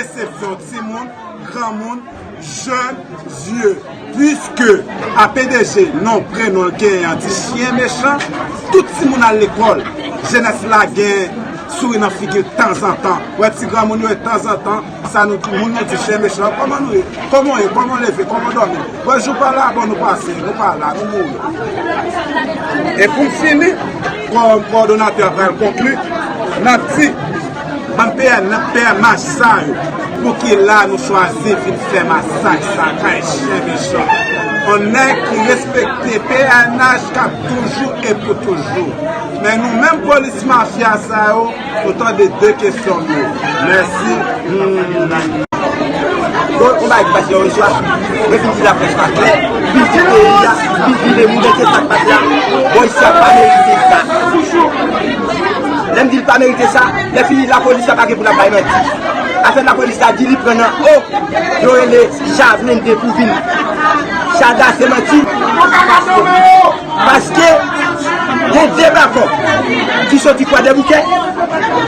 Resepsyon timoun, granmoun, jèn, zye. Piske APDG non prenon l genyen an di chyen mechan, tout timoun al lekòl. Jenès la gen souri nan figi tanzantan. Wè ti granmoun yo e tanzantan sa nou di moun nou di chyen mechan. Kòman nou ye? Kòman w ye? Kòman w leve? Kòman w dòmi? Bon jou pa la, bon nou pase, nou pa la, nou mouri. E pou m fini, kòdonatè a pral konkli, l ap di. Bann pè nan pè mach sa yo. Pouki la nou chwazi vin fè masak sa kay chen mechan. On nèg ki respekte pnh kap toujou e pou toujou. Men nou menm polis mafya sa yo nou tande de kesyon nou. Mèsi humm. Bon on bagay ki pase yon istwa mwen vin di laprès pa klè piti peyi a vin vire moun men se sak pase a bon istwa pa merite sa. Lèm dil pa merite sa, lè fini la police la pa gen pou lap bay manti. Afè la police la di li pran nan oh yo rele Javelin de pou vin Chada se manti paske gen 2 bako ki soti kwadèboukè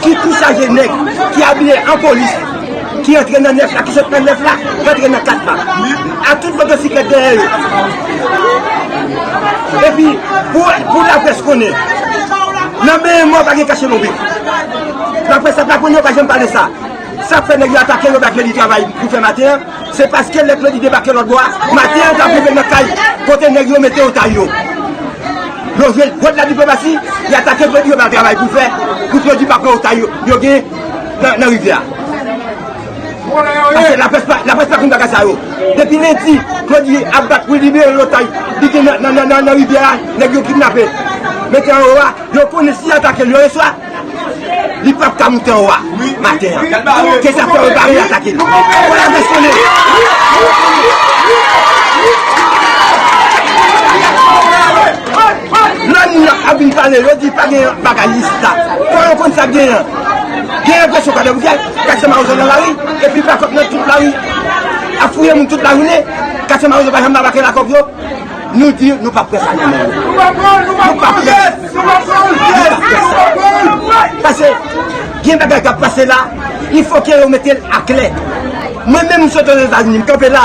ki tou chaje nèg ki abiye an police. Ki antre nan 9 la, ki sot nan 9 la, rantre nan 4 la. Ak tout motosiklèt dèyè yo. Epi, pou laprès konnen, nan benyen mò pa gen kache lonbrik. Laprès ap laponn yo pa janm pale sa. Sa k fè nèg yo atake yo bay Klodi travay pou fè maten an, se paske lè Klodi debake lòt bò a, maten an yo t ap rive nan kay kote nèg yo mete otay yo. Yo jwe jwèt ladiplomasi, y atake Klodi yo bay l travay pou l fè, pou Klodi pa pran otay yo gen. nan rivyè a. Pase la près pa konn bagay sa yo. Depi lendi, Claudy ap bat pou libere lotay li gen nan rivyè a, nèg yo kidnape. Mete anwo a, yo konnen si yo atake l yon eswa, li pap ka moute anwo a maten an. Se sa k fè yo bare atake l. Fò la vè sone! Lè moun yo ap vin pale yo di pa gen bagay lis la. Fò yo konn sa k genyen an. Gen represyon pa dòmi gèt, katye mawon nan lari, epi pa kòk nan tout lari. Ap fouye moun tout lajounen, katye mawon pa janm debake lakòk yo. Nou di nou pa p fè sa nan men yo. Nou pa p fè sa. Pase gen bagay k ap pase la, li fòke yo mete l aklè. Mwen menm m sot Ozetazini, m kanpe la.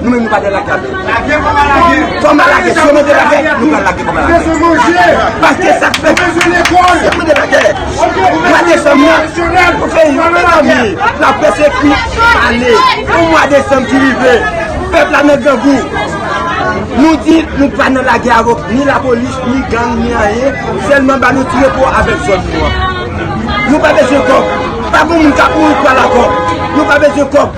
Nou menm nou pa dwe lage avèl. Lage koma lage. Koma lage. Si yo mande lage, nou pral lage koma lage. Yo bezwen manje. Paske sa fè. Yo bezwen lekòl. Si yo mande lage. Ok. Mwa desanm nan. Nasyonal. Pou fè yon mè zanmi. La prese kou. Ane. Pou mwa desanm ki rive. Pèp la nan grangou. Nou di nou pa nan lage avèk ni la polis, ni gang, ni anye. Sèlman ba nou tire pou avèk zon nou an. Nou pa bezwen kòb. Pa pou moun ka pou ou kwa la kòb. Nou pa bezwen kòb.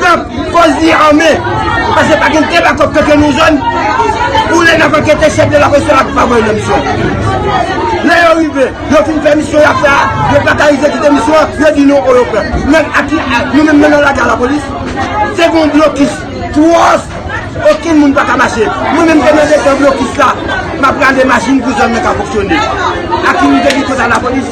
Pran pòz li ame, pase pa gen teba kòk kèkè nou jòn, pou lè nan pakète chèk de la kòk se la koupa vòy nan misyon. Lè yo rive, yo fin fè misyon ya fè a, yo pa ka rive kite misyon, yo di nou o yo pran. Nan ati a, nou menm nan nan laga la polis, se goun blokis, twòs, okin moun pa ka mache. Mwen menm te nan de tan blokis la, ma pran de machin pou zòn nan ka foksyone. Aki nou te di kota la polis.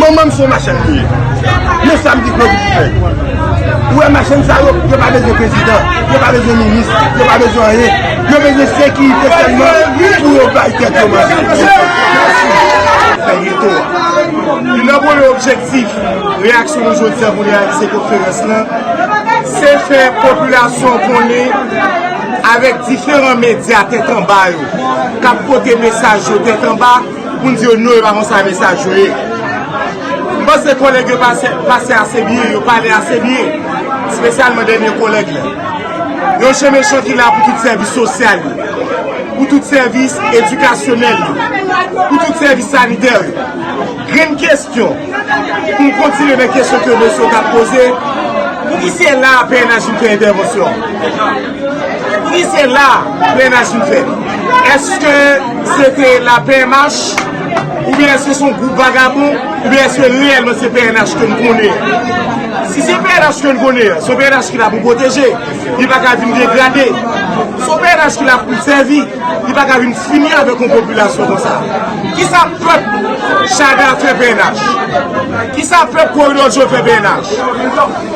Manman m se yon machann li ye. Men sa m di Claudy pou fè. Ou wè machann sa yo, yo pa bezwen prezidan, yo pa bezwen minis, yo pa bezwen anyen. Yo bezwen sekirite sèlman pou yo bay tèt yo manje. Fè reto a. Youn nan premye objektif reyaksyon nou jodi a pou reyalize konferans lan, se fè popilasyon konnen avèk diferan medya tèt anba yo k ap pote mesaj yo tèt anba, Pou n di yo non yo pa kon sa mesaj yo ye. M panse kolèg yo pase ase byen, yo pale ase byen. Spesyalman dènye kolèg la. Yon chen mechan ki la pou tout sèvis sosyal yo. Pou tout sèvis edikasyonèl yo. Pou tout sèvis sanitè yo. Grenn kestyon. Pou m kontinye nan kestyon ke mesye yo ta poze. Pou ki se la a pnh vin fè entèvansyon? Si se la plenaj nou fè, eske se te la pnh, ou byen eske son group vagabon, ou byen eske reyelman se pnh ke nou konnen an? Si se pnh ke nou konnen an, son pnh ki la pou pwoteje, li pa ka vin degrade. Son pnh ki la pou sèvi, li pa ka vin fini avèk yon popilasyon kon sa. Ki sa pèp Chaga fè pnh? Ki sa pèp Koridò Djo fè pnh?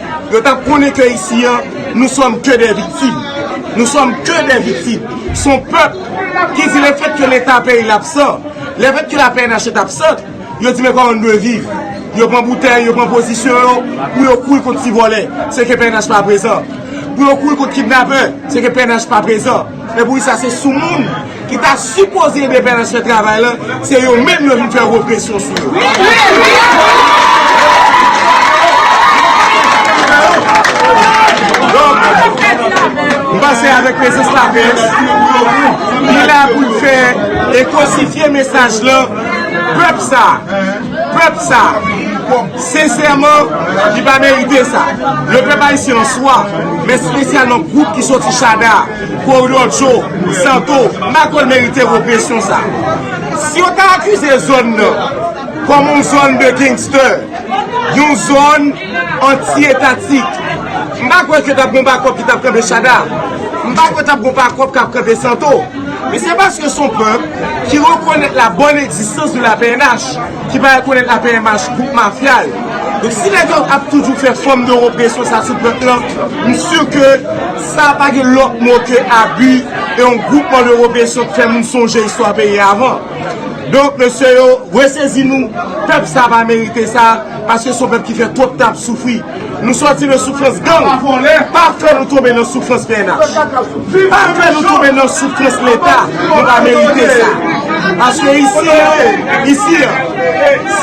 Yo tap konnen ke isi an nou sòm ke dè viktim. Nou sòm ke dè viktim. Son pèp ki di le fèt ke leta peyi l absan, le fèt ke la pnh est absente, yo di men kòman nou dwe viv. Yo pran boutèy, yo pran pozisyon yo pou yo kouri kont ti vòlè, se ke pnh pa prezan. Pou yo kouri kont kidnapè, se ke pnh pa prezan. Epoukisa se sou moun ki ta sipoze ede pnh fè travay la, se yo menm yo vin fè represyon sou yo? Donk, m panse avèk prezans la pnh, li la pou l fè ekosifye mesaj la pèp sa. Pèp sa, sensèman, li pa merite sa. Le pèp ayisyen an swa, men spesyalman gwoup ki soti Shada, Kwoyòdjo, Santo, Makòl merite represyon sa. Si yo ta akize zòn nan kòm yon zòn de gangster, yon zòn. Anti etatik. M pa kwè ke t ap gen yon bakòp ki t ap kanpe Shada. M pa kwè t ap gen yon bakòp k ap kanpe Santo. Men se paske se yon pèp ki rekonèt la bòn egzistans de la pnh, ki pa rekonèt la pnh gwoup mafya l. Donk si nèg yo ap toujou fè fòm de represyon sa sou pèp lan, m si ke sa pa gen lòt mo ke abi e yon gwoupman de represyon k fè moun sonje istwa peyi a avan. Donk mesye yo, resezi nou, pèp sa pa merite sa. Paske son pèp ki fè twòp tan ap soufri. Nou sòti nan soufrans gang. Pa fè nou tonbe nan soufrans pnh. Pa fè nou tonbe nan soufrans leta. Nou pa merite sa. Paske isi an, isi an,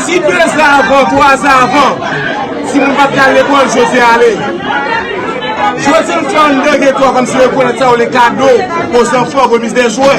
si 2 zan avan, 3 zan avan, ti moun pat kal lekòl, jodi a ale. Jodi an nou fè anndan geto a kòmsi rekonèt sa yo le kado o zanfan, remis de jwè.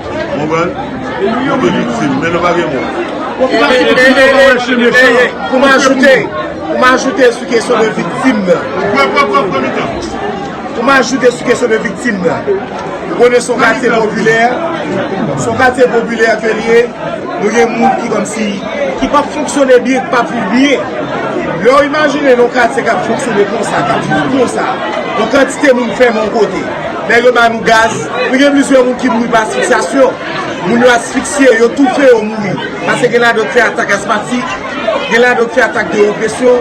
Konprann? Nou te viktim, men nou pa gen mo. Pou m ajoute, pou m ajoute sou kesyon de viktim nan. Pou m ajoute sou kesyon de viktim nan. Ou konnen son katye popilè, son katye popilè ke li e, nou gen moun ki kom si, ki pa fonksyone byen, ki pa viv byen. Lè ou imajine nou katye ka fonksyone konsa, ka viv konsa, nou kantite moun fèm an kote. Nèg yo ba nou gaz, nou gen plizyè moun ki mouri pa asfiksyasyon. Moun yo asfiksye, yo toufe, yo mouri. Pase gen ladan yo ki fè atak asmatik, gen ladan yo ki fè atak de opresyon.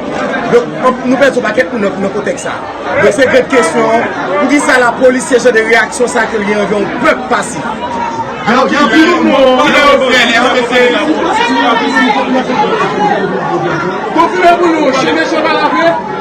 Donk, nou pèdi yon pakèt moun nan kontèks sa a. Donk, se grann kesyon an, pou ki sa lapolis se jan de reyaksyon sa a ke l gen anvè yon pèp pasif? Donk, gen anpil moun yo mouri nan yon frè, eske se lapolis? Konfime pou nou, chimè chèval a vre?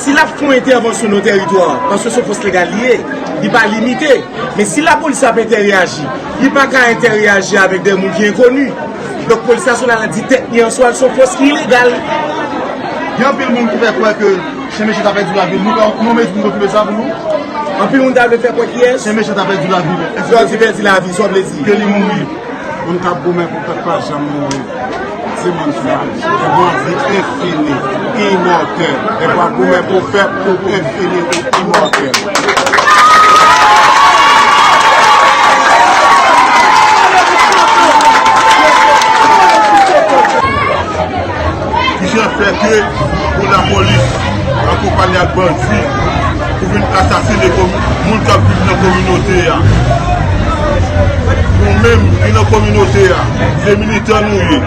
Si lap fon entèvansyon nan teritwa a, paske son fos legal li ye, li pa limite. Men si lapolis ap entèreyaji, li pa ka entèreyaji avèk de moun ki enkoni. Donk polis nasyonal la di tèt li answa l son fos ki ilegal. Gen anpil moun ki fè kwè ke chen mechan ta pèdi lavi l. Nou ka yon mezi pou konfime sa pou nou? Anpil moun ta vle fè kwè kiyès? Chen mechan ta pèdi lavi l. Lè w di pèdi lavi l, sa w vle di? Ke li mouri. Moun kap goumen pou pèp pa janm mouri se moun sa ki gen yon vi enfini, imòtèl. Lè wap goumen pou pèp ou enfini, ou imòtèl. Ki jan fè ke pou lapolis ankonpanye ak bandi pou vin asasine moun kap viv nan kominote a? Nou menm ki nan kominote a, se militan nou ye,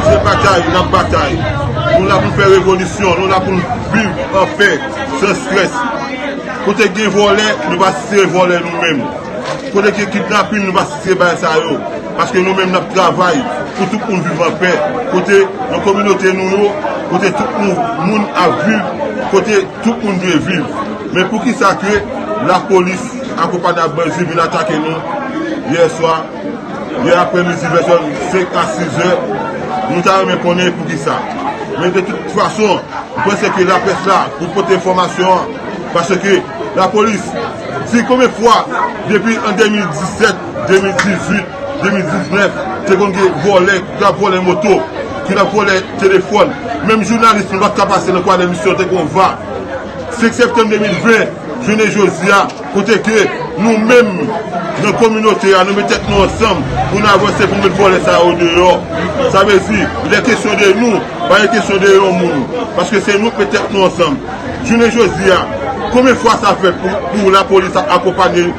se batay nap batay. Nou la pou fè revolisyon, nou la pou viv an pè, san strès. Kote gen vòlè, nou pa sitire vòlè nou menm. Kote gen kidnapin, nou pa sitire bagay sa yo. Paske nou menm n ap travay pou tout moun viv anpè, kote nan kominote nou yo, kote tout moun ap viv, kote tout moun dwe viv. Men poukisa ke lapolis akonpanye ak bandi vin atake nou yè swa, yè aprè midi vè 5 a 6 zè, nou ta renmen konnen poukisa. Men de tout fason, m panse ke laprès la pou pote enfòmasyon an, paske lapolis di konbyen fwa depi an 2017, 2018, 2019 te konn gen vòlè ki tap vòlè moto, ki tap vòlè telefòn, menm jounalis nou pat ka pase nan kwadè misye yo te konn va. 5 septanm 2020 jounen jodi a kote ke nou menm nan kominote a nou met tèt nou ansanm pou nou avanse pou nou met vòlè sa yo deyò. Sa vle di lè kesyon de nou pa gen kesyon de yon moun paske se nou k met tèt nou ansanm. Jounen jodi a konbyen fwa sa fèt pou lapolis ap akonpanye.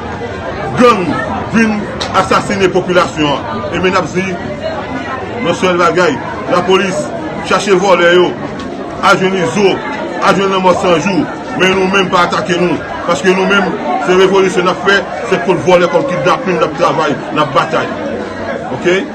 gang vin asasine popilasyon an e men nap di yon sèl bagay la polis chache vòlè yo al jwenn izo al jwenn lanmò san jou men nou menm pa atake nou paske nou menm se revolisyon nap fè se kont vòlè kont kidnapin nap travay nap batay ok.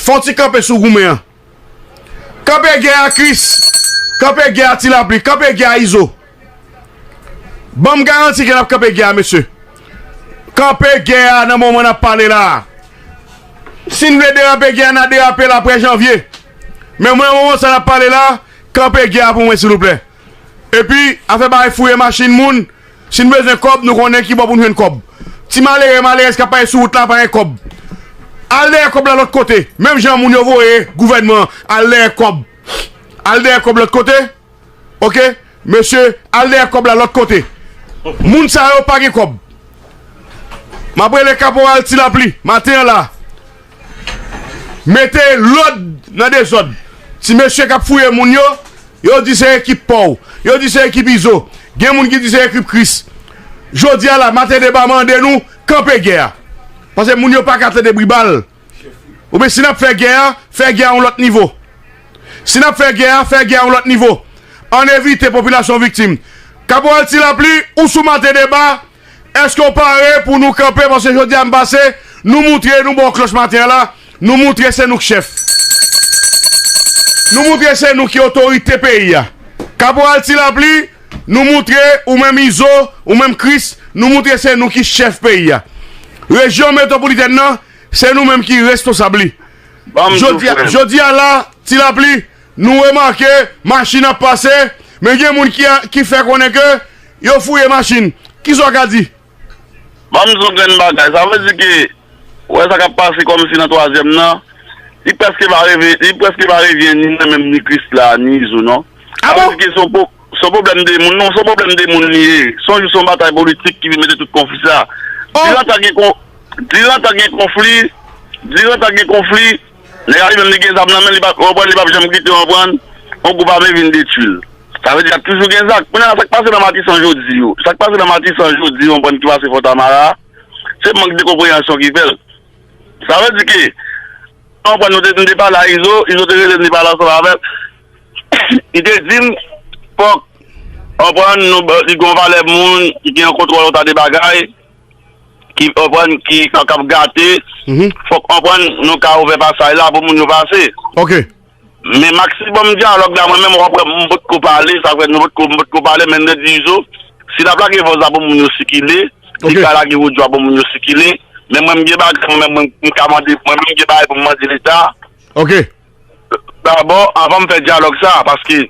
Fon ti kanpe sou goumen an. Kanpe gè a Chris. Kanpe gè a ti lapli. Kanpe gè a izo. Banm garanti ke nap kanpe gè a mesye. Kanpe gè a nan moman nap pale la. Sin vle derape gè a na derape l apre janvye. Men mwen nan moman sa nap pale la kanpe gè a pou mwen silouplè. Epi afè bay fouye machin moun. Si n bezwen kòb, nou konnen ki bò pou n jwenn kòb. Ti malere, malerèz k ap pale sou wout la pa gen kòb. Al dèyè kòb la lòt kote. Menm jan moun yo voye gouvènman an al dèyè kòb. Al dèyè kòb lòt kote. Ok. Mesye, al dèyè kòb la lòt kote. Moun sa yo pa gen kòb. M ap rele kaporal Ti Lapli maten an la. Mete lod nan dezod. Ti mesye kap fouye moun yo, yo di se ekip paw, yo di se ekip izo, gen moun ki di se ekip kris. Jodia la maten deba mande nou kanpe gè a. Pase moun yo paka tande bri bal. Oubyen si nap fè gè a, fè gè a yon lot nivo. Si nap fè gè a, fè gè a yon lot nivo. Ann evite popilasyon viktim. Kaporal Tilapli ou sou maten deba. Eske w pare pou nou kanpe paske jodi a m pase nou moutre nou bon kloch maten an la nou moutre se nou k chèf nou moutre se nou ki otorite peyi a kaporal ti lapli nou moutre ou menm izo ou menm kris nou moutre se nou ki chèf peyi a rejyon metwopolitèn nan se nou menm ki responsab li jodi a la ti lapli Nou remake machin ap pase, men gen moun ki fè konnen ke yo fouye machin. Ki sa w ka di? Ban m yon grenn bagay. Sa vle di ke ou wè sa k ap pase kòmsi nan twazyèm nan, li prèske pa reve, li prèske pa revyen ni mwen menm, ni Krisla, ni Izo non. A bon? Sa vle di ke se yon po, se yon pwoblèm de moun. Non, se yon pwoblèm de moun li ye. Se yon jis yon batay politik ki vin mete tout konfli sa. Diran tan gen kon, diran tan gen konfli, diran tan gen konfli. Nèg la li menm li gen zam nan men li pa ou konprann li pap janm kite ou konprann yon gwoup ame vin detwi l sa vle di lap toujou gen zak kounye a sak pase nan matisan jodi yo sak pase nan matisan jodi yo ou konprann ki pase fontamara a se mank de konpreyansyon ki fè l sa vle di ke ou konprann nou te nou te pale a izo izo te rele m li pale ansanm avè m li te di m fòk ou konprann nou li gen yon valè moun ki gen yon kontwòl yon ta de bagay. ki konprann ki kap gate fok konprann nou ka ouvè pasaj la pou moun yo pase ok men maksimòm dyalòg la mwen menm wap wè m potko pale sa fè m potko pale men nèt di izo si lap lage vòz la pou moun yo sikile li ka lage odyo a pou moun yo sikile men mwen m gen bagay mwen menm mwen ka mande mwen menm m gen bagay pou m mande leta ok. Dabò, avan m fè dyalòg sa a, paske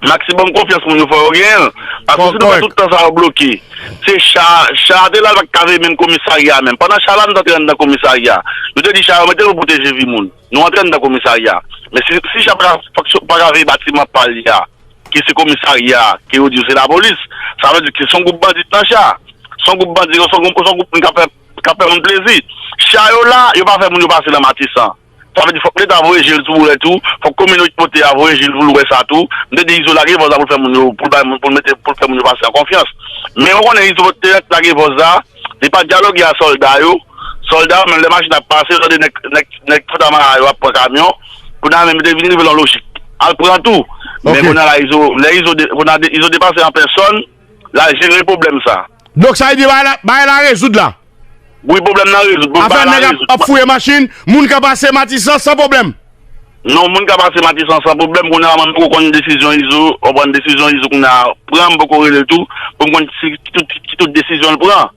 maksimòm konfyans moun yo fò yo genyen l, paske si nou fè tout tan sa yo bloke, se cha a, cha a te la l pa t ka veye menm komisarya a menm. Pandan cha la nou t antre anndan komisarya a, yo te di cha yo mete l pou pwoteje vi moun. Nou antre anndan komisarya a. Men si cha pa ka veye batiman pa li a, ki se komisarya a, ke yo di yo se lapolis, sa vle di ke se yon gwoup bandi ki nan cha a. Se yon gwoup bandi, se yon gwoup moun k ap fè moun plezi. Cha yo la, yo pa fè moun yo pase nan Matisan. Sa vle di fòk leta voye jel sou boulèt tou, fòk komino kote a voye jel poul wè sa tou. M te di Izo lage vòz la poul fè moun yo, poul bay moun, poul mete, poul fè moun yo pase an konfyans. Men ou konnen Izo te ret lage vòz la, li pa dyaloge a sòlda yo. Sòlda yo menm lè machin ap pase yo tande nèg, nèg, nèg fanta mara yo ap pran kamyon. Kounye a menm yo te vin rive nan lojik al pran tou. Men kounye a la Izo, lè Izo, kounye a Izo depase an pèsòn. la jere pwoblèm sa. Donk sa vle di bagay la rezoud la? Wi pwoblèm nan rezoud. Afè nèg ap fouye machin, moun ka pase Matisan san pwoblèm? Non moun ka pase Matisan san pwoblèm, kounye a mwen poko konn desizyon Izo, ou konprann, desizyon Izo kounye a pran, m poko rele l tou pou m konn ki tout desizyon l pran.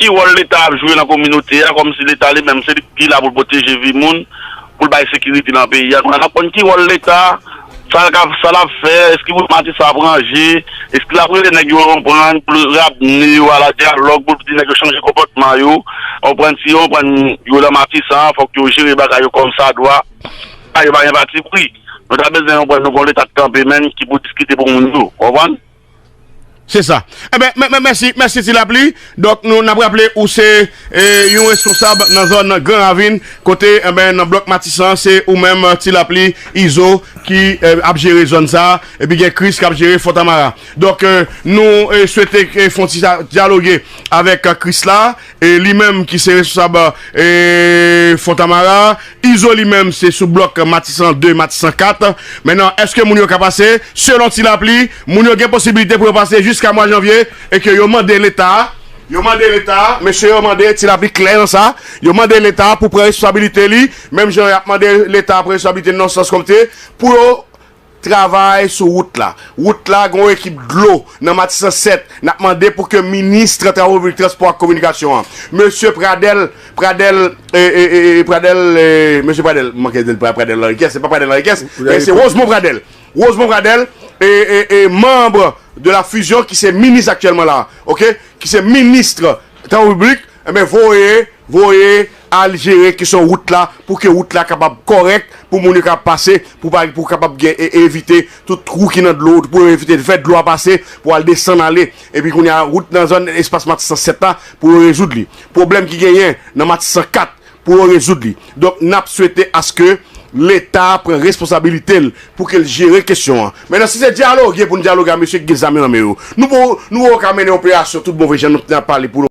Ki wòl leta ap jwe nan kominote a kòmsi leta li menm se li ki la pou l pwoteje vi moun, pou l bay sekirite nan peyi a. Kounye a n ap konn ki wòl leta, sa l ka, sa l ap fè, èske primati sa ap ranje, èske l ap rele nèg yo konprann pou l ramne yo ala dyalòg, pou l di nèg yo chanje konpòtman yo, konprann si yo konprann yo nan Matisan fòk yo jere bagay yo kòmsadwa. Sa yo pa gen patipri. Nou ta bezwen konprann nou gen yon leta k kanpe menn ki pou diskite pou moun yo. Ou konprann? Se sa. Enben, eh mè, mèsi, mèsi ti lapli. Donk nou n ap raple ou se eh, yon responsab nan zòn Gran Ravin kote enben eh nan blòk Matisan se ou menm ti lapli, Izo ki eh, ap jere zòn sa epi gen Kris k ap jere Fontamara. Donk eh, nou eh, swete eh, fon ti sa dyaloge avèk Kris la. E li menm ki se responsab Fontamara a, Izo li menm se sou blòk Matisan 2, Matisan 4. Menan, èske moun yo ka pase? Selon ti lapli, moun yo gen posibilite pou yo pase jiska mwa janvye e ke yo mande leta, yo mande leta, mesye yo mande, ti lapli klè nan sa, yo mande leta pou pran responsabilite li, menm jan y ap mande leta pran responsabilite nan sans kòmte, pou yo Travay sou wout la. Wout la gen yon ekip dlo nan Matisan 7. N ap mande pou ke minis tra Travo Piblik Transpò ak Kominikasyon an, Mesye Pradel, Pradel, e, e, e, e, Pradel, e, Mesye Pradel, m manke di l Pra, Pradel Anrikès, se pa Pradel Anrikès, men se Wozmon Pradel, Wozmon Pradel, e, e, e, manb de la fizyon ki se minis aktyèlman la a, oke, ki se minis tra Travo Piblik. Enben voye voye al jere kesyon wout la pou ke wout la kapab kòrèk pou moun yo kapab pase pou pa pou kapab gen e evite tout twou ki nan dlo pou evite fè dlo a pase pou al desann ale epi kounye a wout nan zòn espas matisan 7 la pou yo rezoud li pwoblèm ki genyen nan matisan 4 pou yo rezoud li. Donk nap swete aske leta pran responsabilite l pou ke l jere kesyon an. Mennan si se dyaloge pou n dyaloge a mesye ki gen zam yo nan men yo, nou poko ka mennen operasyon tout bon vre jan nou t nan pale pou nou.